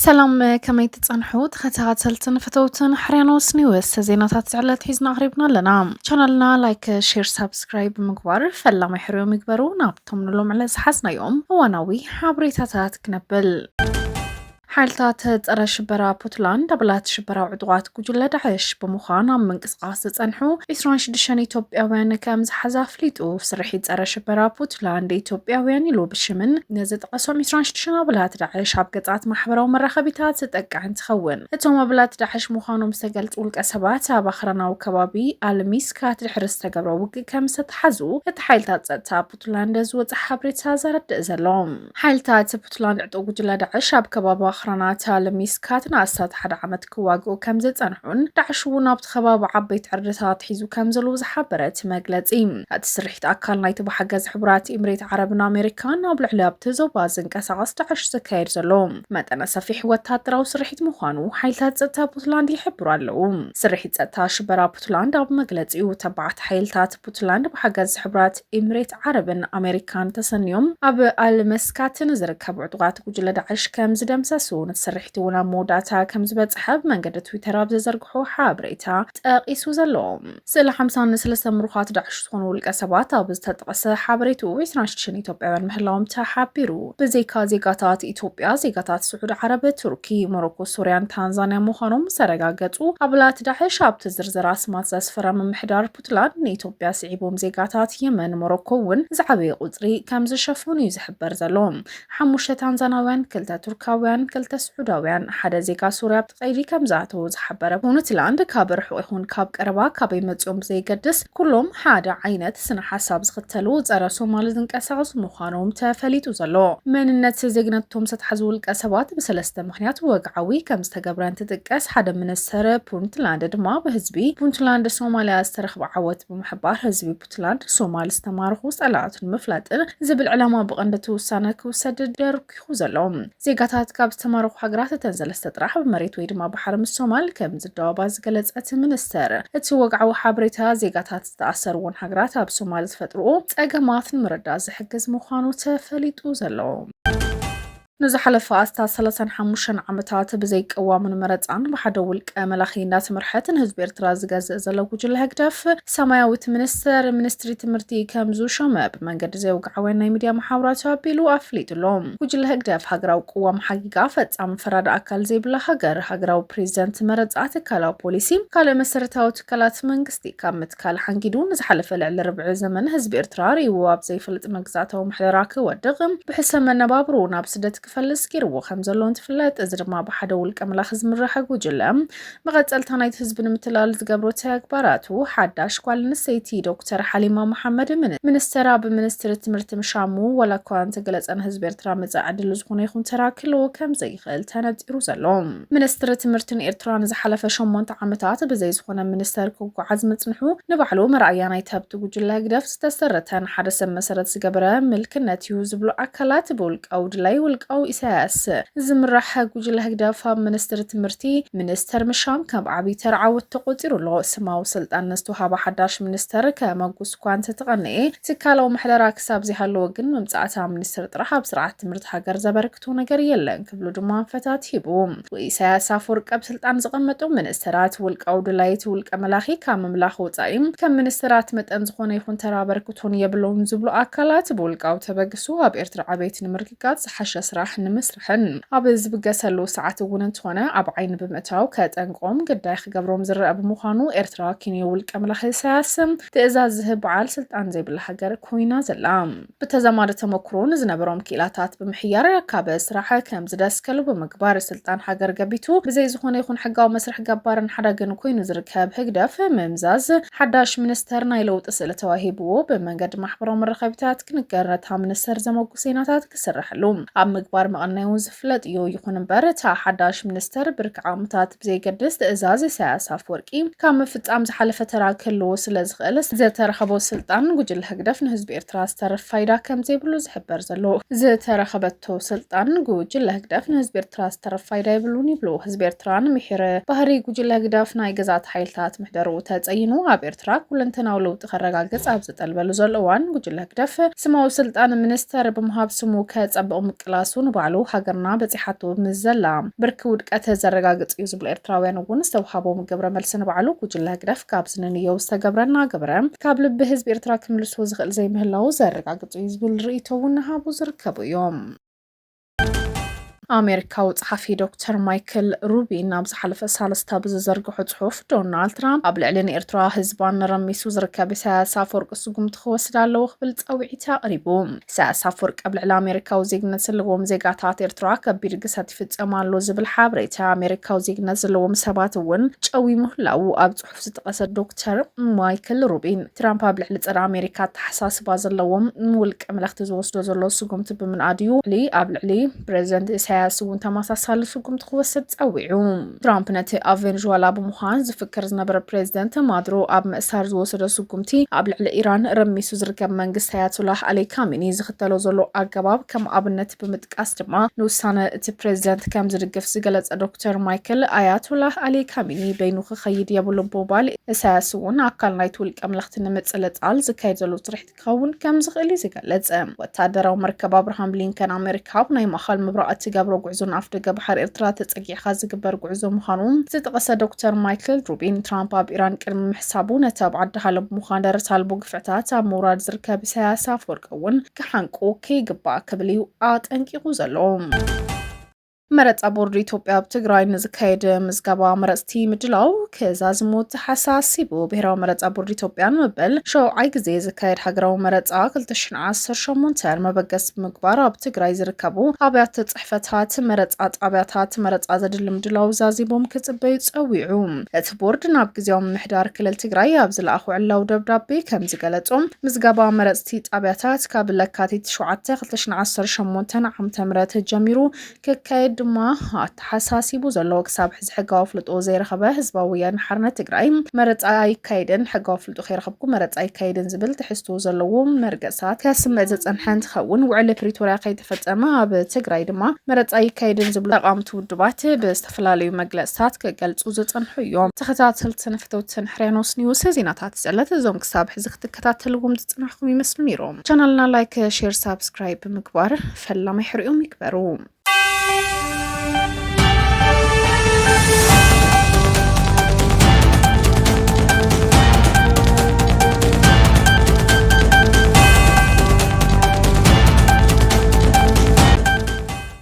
ሰላም ከመይ ትፀንሑ ተኸታተልትን ፈተውትን ሕርያኖስ ኒውስ ዜናታት ዝዕለት ሒዝና ኣቕሪብና ኣለና ቻናልና ላይክ ሼር ሳብስክራይብ ብምግባር ፈላሚ ሕርዮም ይግበሩ ናብቶም ንሎም ዕለት ዝሓዝናዮም እዋናዊ ሓበሬታታት ክነብል ሓይልታት ፀረ ሽበራ ፑትላንድ ኣባላት ሽበራዊ ዕጡቓት ጉጅለ ዳዕሽ ብምዃን ኣብ ምንቅስቓስ ዝፀንሑ 26 ኢትዮጵያውያን ከም ዝሓዘ ኣፍሊጡ። ስርሒት ፀረ ሽበራ ፑትላንድ ኢትዮጵያውያን ኢሉ ብሽምን ንዝጠቐሶም 26 ኣባላት ዳዕሽ ኣብ ገፃት ማሕበራዊ መራኸቢታት ዝጠቅዕ እንትኸውን እቶም ኣባላት ዳዕሽ ምዃኖም ዝተገልፁ ውልቀ ሰባት ኣብ ኣኽራናዊ ከባቢ ኣልሚስካት ድሕሪ ዝተገብረ ውግእ ከም ዝተተሓዙ እቲ ሓይልታት ፀጥታ ፑትላንድ ዝወፀ ሓበሬታ ዘረድእ ዘሎ። ሓይልታት ፑትላንድ ዕጡቕ ጉጅለ ዳዕሽ ኣብ ከባቢ ኣኽራናት ኣልሚስካት ንኣስታት ሓደ ዓመት ክዋግኡ ከም ዝጸንሑን ዳዕሽ እውን ኣብቲ ከባቢ ዓበይቲ ዕርድታት ሒዙ ከም ዘለዉ ዝሓበረ እቲ መግለጺ እቲ ስርሒት ኣካል ናይቲ ብሓገዝ ሕቡራት ኢምሬት ዓረብን ኣሜሪካን ኣብ ልዕሊ ኣብቲ ዞባ ዝንቀሳቐስ ዳዕሽ ዝካየድ ዘሎ መጠነ ሰፊሕ ወታደራዊ ስርሒት ምዃኑ ሓይልታት ጸጥታ ፑትላንድ ይሕብሩ ኣለዉ። ስርሒት ጸጥታ ሽበራ ፑትላንድ ኣብ መግለጺኡ ተባዓት ሓይልታት ፑትላንድ ብሓገዝ ሕብራት ኢምሬት ዓረብን ኣሜሪካን ተሰንዮም ኣብ ኣልመስካት ንዝርከቡ ዕጡቓት ጉጅለ ዳዕሽ ከም ዝደምሰሱ ነቲ ስርሒት እውን ኣብ መወዳእታ ከም ዝበፅሐ ብመንገዲ ትዊተር ኣብ ዘዘርግሖ ሓበሬታ ጠቒሱ ዘሎ ስእሊ ሓምሳ ንሰለስተ ምሩኻት ዳዕሽ ዝኾኑ ውልቀ ሰባት ኣብ ዝተጠቐሰ ሓበሬትኡ ዕስራን ሽዱሽተን ኢትዮጵያውያን ምህላዎም ተሓቢሩ። ብዘይካ ዜጋታት ኢትዮጵያ ዜጋታት ስዑድ ዓረብ፣ ቱርኪ፣ ሞሮኮ፣ ሱርያን ታንዛንያ ምዃኖም ዝተረጋገፁ ኣባላት ዳዕሽ ኣብቲ ዝርዝር ኣስማት ዘስፈረ ምምሕዳር ፑትላንድ ንኢትዮጵያ ስዒቦም ዜጋታት የመን ሞሮኮ እውን ዝዓበየ ቁፅሪ ከም ዝሸፈኑ እዩ ዝሕበር ዘሎ። ሓሙሽተ ታንዛናውያን፣ ክልተ ቱርካውያን፣ ክልተ ስዑዳውያን፣ ሓደ ዜጋ ሱርያ ኣብቲ ቀይዲ ከም ዝኣተዉ ዝሓበረ ፑንትላንድ ካብ ርሑቕ ይኹን ካብ ቀረባ ካበይ መፂኦም ብዘየገድስ ኩሎም ሓደ ዓይነት ስነ ሓሳብ ዝኽተሉ ፀረ ሶማል ዝንቀሳቐሱ ምዃኖም ተፈሊጡ ዘሎ መንነት ዜግነቶም ዝተትሓዙ ውልቀ ሰባት ብሰለስተ ምኽንያቱ ወግዓዊ ከም ዝተገብረ እንትጥቀስ፣ ሓደ ምኒስተር ፑንትላንድ ድማ ብህዝቢ ፑንትላንድ ሶማልያ ዝተረኽበ ዓወት ብምሕባር ህዝቢ ፑትላንድ ሶማል ዝተማረኹ ጸላእቱ ንምፍላጥን ዝብል ዕላማ ብቐንዲ እቲ ውሳነ ክውሰድ ደርኲኹ ዘሎ። ዜጋታት ካብ ዝተማረኹ ሃገራት እተን ሰለስተ ጥራሕ ብመሬት ወይ ድማ ባሕሪ ምስ ሶማል ከም ዝዳወባ ዝገለጸ እቲ ምኒስተር፣ እቲ ወግዓዊ ሓበሬታ ዜጋታት ዝተኣሰርዎን ሃገራት ኣብ ሶማል ዝፈጥርኦ ጸገማት ንምርዳእ ዝሕግዝ ምዃኑ ተፈሊጡ ዘሎ። ንዝሓለፈ ኣስታት ሰላሳን ሓሙሽተን ዓመታት ብዘይ ቅዋምን መረፃን ብሓደ ውልቀ መላኺ እንዳተመርሐት ንህዝቢ ኤርትራ ዝገዝእ ዘሎ ጉጅለ ህግደፍ ሰማያዊት ሚኒስትር ሚኒስትሪ ትምህርቲ ከም ዝሾመ ብመንገዲ ዘይወግዓውያን ናይ ሚድያ መሓውራቱ ኣቢሉ ኣፍሊጡ ኣሎ። ጉጅለ ህግደፍ ሃገራዊ ቅዋም ሓጊጋ ፈፃሚ ፈራዲ ኣካል ዘይብላ ሃገር፣ ሃገራዊ ፕሬዚደንት መረፃ፣ ትካላዊ ፖሊሲ፣ ካልእ መሰረታዊ ትካላት መንግስቲ ካብ ካልእ ሓንጊዱ ንዝሓለፈ ልዕሊ ርብዒ ዘመን ህዝቢ ኤርትራ ርእይዎ ኣብ ዘይፈልጥ መግዛእታዊ ምሕደራ ክወድቕ፣ ብሕሰም መነባብሮኡ ናብ ስደት ክፈልስ ገይርዎ ከም ዘሎ እንትፍለጥ፣ እዚ ድማ ብሓደ ውልቀ መላኺ ዝምራሕ ጉጅለ መቐጸልታ ናይቲ ህዝቢ ንምትላል ዝገብሮ ተግባራቱ ሓዳሽ ጓል ኣንስተይቲ ዶክተር ሓሊማ መሓመድ ሚኒስተር ኣብ ሚኒስትሪ ትምህርቲ ምሻሙ ዋላኳ እንተገለጸ ንህዝቢ ኤርትራ መጻኢ ዕድሉ ዝኾነ ይኹን ተራ ክህልዎ ከም ክእል ተነጺሩ ዘሎ። ሚኒስትሪ ትምህርቲ ንኤርትራ ንዝሓለፈ ሸሞንተ ዓመታት ብዘይ ዝኾነ ሚኒስተር ክጓዓዝ ምጽንሑ ንባዕሉ መርኣያ ናይቲ ኣብቲ ጉጅለ ህግደፍ ዝተሰረተ ንሓደ ሰብ መሰረት ዝገበረ ምልክነት እዩ ዝብሉ ኣካላት ብውልቃዊ ድላይ ውልቃዊ ኢሳያስ ዝምራሕ ጉጅለ ህግደፍ ኣብ ሚኒስትሪ ትምህርቲ ሚኒስተር ምሻም ከም ዓብይ ተራ ዓወት ተቆጺሩ ኣሎ። ስማዊ ስልጣን ንዝተውሃበ ሓዳሽ ሚኒስተር ከመጉስ እኳ እንተተቐነኤ ትካላዊ ምሕደራ ክሳብ ዘይሃለወ ግን ምምጻእ እታ ሚኒስትር ጥራሕ ኣብ ስርዓት ትምህርቲ ሃገር ዘበርክ ዝሓትቶ ነገር የለን ክብሉ ድማ ኣንፈታት ሂቡ። ኢሳያስ ኣፈወርቂ ኣብ ስልጣን ዝቐመጡ ሚኒስተራት ውልቃዊ ድላይት ውልቀ መላኺ ካብ ምምላኽ ወጻኢ ከም ሚኒስተራት መጠን ዝኾነ ይኹን ተራ ኣበርክቶን የብሎምን ዝብሉ ኣካላት ብውልቃዊ ተበግሶ ኣብ ኤርትራ ዕቤት ንምርግጋጽ ዝሓሸ ስራሕ ንምስርሕን ኣብ ዝብገሰሉ ሰዓት እውን እንተኾነ ኣብ ዓይኒ ብምእታው ከጠንቅቖም ግዳይ ክገብሮም ዝረኣ ብምዃኑ ኤርትራ ኪንዮ ውልቀ መላኺ ኢሳያስ ትእዛዝ ዝህብ በዓል ስልጣን ዘይብላ ሃገር ኮይና ዘላ ብተዛማዲ ተመኩሮ ንዝነበሮም ክኢላታት ብምሕያር ካብ ስራሕ ከም ዝደስከሉ ብምግባር ስልጣን ሃገር ገቢቱ ብዘይ ዝኾነ ይኹን ሕጋዊ መስርሕ ገባርን ሓዳግን ኮይኑ ዝርከብ ህግደፍ ምምዛዝ ሓዳሽ ሚኒስተር ናይ ለውጢ ስእሊ ተዋሂብዎ ብመንገዲ ማሕበራዊ መራኸቢታት ክንገር ነታ ሚኒስተር ዘመጉ ሴናታት ክስረሐሉ ኣብ ምግባር መቐነዩ ዝፍለጥ እዩ። ይኹን እምበር እታ ሓዳሽ ሚኒስተር ብርኪ ዓቕምታት ብዘየገድስ ትእዛዝ ኢሳያስ ኣፍወርቂ ካብ ምፍጻም ዝሓለፈ ተራ ክህልዎ ስለ ዝኽእል ዝተረኸቦ ስልጣን ጉጅለ ህግደፍ ንህዝቢ ኤርትራ ዝተርፍ ፋይዳ ከም ዘይብሉ ዝሕበር ዘሎ። ዝተረኸበቶ ስልጣን ጉጅለ ህግደፍ ንህዝቢ ኤርትራ ዝተርፍ ፋይዳ የብሉን ይብሉ። ህዝቢ ኤርትራ ንምሒር ባህሪ ጉጅለ ህግደፍ ናይ ገዛእቲ ሓይልታት ምሕደርኡ ተጸይኑ ኣብ ኤርትራ ኩለንተናዊ ለውጢ ሓቂ ከረጋግጽ ኣብ ዝጠልበሉ ዘሎ እዋን ጉጅለ ህግደፍ ስማዊ ስልጣን ሚኒስተር ብምሃብ ስሙ ከጸብቕ ምቅላሱ ንባዕሉ ሃገርና በጺሓቶ ምስ ዘላ ብርኪ ውድቀት ዘረጋግጽ እዩ ዝብሉ ኤርትራውያን እውን ዝተውሃቦም ግብረ መልሲ ንባዕሉ ጉጅለ ህግደፍ ካብ ዝንንዮው ዝተገብረ እናገበረ ካብ ልቢ ህዝቢ ኤርትራ ክምልሶ ዝኽእል ዘይምህላዉ ዘረጋግጽ እዩ ዝብል ርእይቶ እውን ንሃቡ ዝርከቡ እዮም። ኣሜሪካዊ ጸሓፊ ዶክተር ማይክል ሩቢን ኣብ ዝሓለፈ ሳለስታ ብዝዘርግሖ ጽሑፍ ዶናልድ ትራምፕ ኣብ ልዕሊ ንኤርትራ ህዝባን ንረሚሱ ዝርከብ ኢሳያስ ኣፈወርቂ ስጉምቲ ክወስድ ኣለዎ ክብል ጻውዒት ኣቕሪቡ። ኢሳያስ ኣፈወርቂ ኣብ ልዕሊ ኣሜሪካዊ ዜግነት ዘለዎም ዜጋታት ኤርትራ ከቢድ ግሰት ይፍጸም ኣሎ ዝብል ሓበሬታ ኣሜሪካዊ ዜግነት ዘለዎም ሰባት እውን ጨዊ ምህላዉ ኣብ ክፍ ዝጠቐሰ ዶክተር ማይክል ሩቢን ትራምፕ ኣብ ልዕሊ ፀረ ኣሜሪካ ኣተሓሳስባ ዘለዎም ንውልቀ መለኽቲ ዝወስዶ ዘሎ ስጉምቲ ብምንኣድ እዩ ልዕሊ ኣብ ልዕሊ ፕሬዚደንት ኢሳያስ እውን ተመሳሳሊ ስጉምቲ ክወስድ ፀዊዑ። ትራምፕ ነቲ ኣብ ቬንዙዋላ ብምዃን ዝፍክር ዝነበረ ፕሬዚደንት ማድሮ ኣብ ምእሳር ዝወሰዶ ስጉምቲ ኣብ ልዕሊ ኢራን ረሚሱ ዝርከብ መንግስቲ ኣያቶላህ ኣሊ ካሚኒ ዝኽተሎ ዘሎ ኣገባብ ከም ኣብነት ብምጥ ቃስ ድማ ንውሳነ እቲ ፕሬዚደንት ከም ዝድግፍ ዝገለጸ ዶክተር ማይክል ኣያቶላህ ኣሊ ካሚኒ በይኑ ክኸይድ የብሉን ብምባል እሳያስ እውን ኣካል ናይቲ ውልቀ መለኽቲ ንምጽልጻል ዝካየድ ዘሎ ትርሒት ክኸውን ከም ዝኽእል እዩ ዝገለጸ። ወተሃደራዊ መርከብ ኣብርሃም ሊንከን ኣሜሪካ ኣብ ናይ ማእኸል ምብራቕ እትገብሮ ጉዕዞ ንኣፍደገ ባሕሪ ኤርትራ ተጸጊዕካ ዝግበር ጉዕዞ ምዃኑ ዝጠቐሰ ዶክተር ማይክል ሩቢን ትራምፕ ኣብ ኢራን ቅድሚ ምሕሳቡ ነቲ ኣብ ዓዲ ሃሎ ብምዃን ደረት ኣልቦ ግፍዕታት ኣብ ምውራድ ዝርከብ እሳያስ ኣፈወርቂ እውን ክሓንቁ ከይግባእ ክብል እዩ ኣጠንቂቑ ዘሎ። መረፃ ቦርድ ኢትዮጵያ ኣብ ትግራይ ንዝካየድ ምዝገባ መረፅቲ ምድላው ክዛዝሙ ተሓሳሲቡ። ብሄራዊ መረፃ ቦርድ ኢትዮጵያ ንመበል ሸውዓይ ግዜ ዝካየድ ሃገራዊ መረፃ 2018 መበገስ ብምግባር ኣብ ትግራይ ዝርከቡ ኣብያተ ፅሕፈታት መረፃ ጣብያታት መረፃ ዘድሊ ምድላው ዛዚሞም ክፅበዩ ፀዊዑ። ቦርድ ናብ ግዜያዊ ምምሕዳር ክልል ትግራይ ኣብ ዝለኣኾ ዕላዊ ደብዳቤ ከም ዝገለጾ፣ ምዝገባ መረጽቲ ጣብያታት ካብ ለካቲት ሸውዓተ ክልተ ሽሕን ዓሰርተ ሸሞንተን ዓመተ ምህረት ጀሚሩ ክካየድ ድማ ኣተሓሳሲቡ ዘሎ። ክሳብ ሕዚ ሕጋዊ ኣፍልጦ ዘይረኸበ ህዝባዊ ወያነ ሓርነት ትግራይ መረጻ ኣይካየድን፣ ሕጋዊ ኣፍልጦ ከይረኸብኩ መረጻ ኣይካየድን ዝብል ትሕዝቶ ዘለዎ መርገጽታት ከስምዕ ዝጸንሐ እንትኸውን፣ ውዕሊ ፕሪቶርያ ከይተፈጸመ ኣብ ትግራይ ድማ መረጻ ኣይካየድን ዝብሉ ተቓወምቲ ውድባት ዝተፈላለዩ መግለፅታት ክገልፁ ዝፅንሑ እዮም። ተኸታተልትን ፍተውትን ሕርያኖስ ኒውስ ዜናታት ዝዕለት እዞም ክሳብ ሕዚ ክትከታተልዎም ዝፅናሕኩም ይመስሉ ነይሮም። ቻናልና ላይክ፣ ሼር፣ ሳብስክራይብ ብምግባር ፈላማይ ሕርኦም ይግበሩ።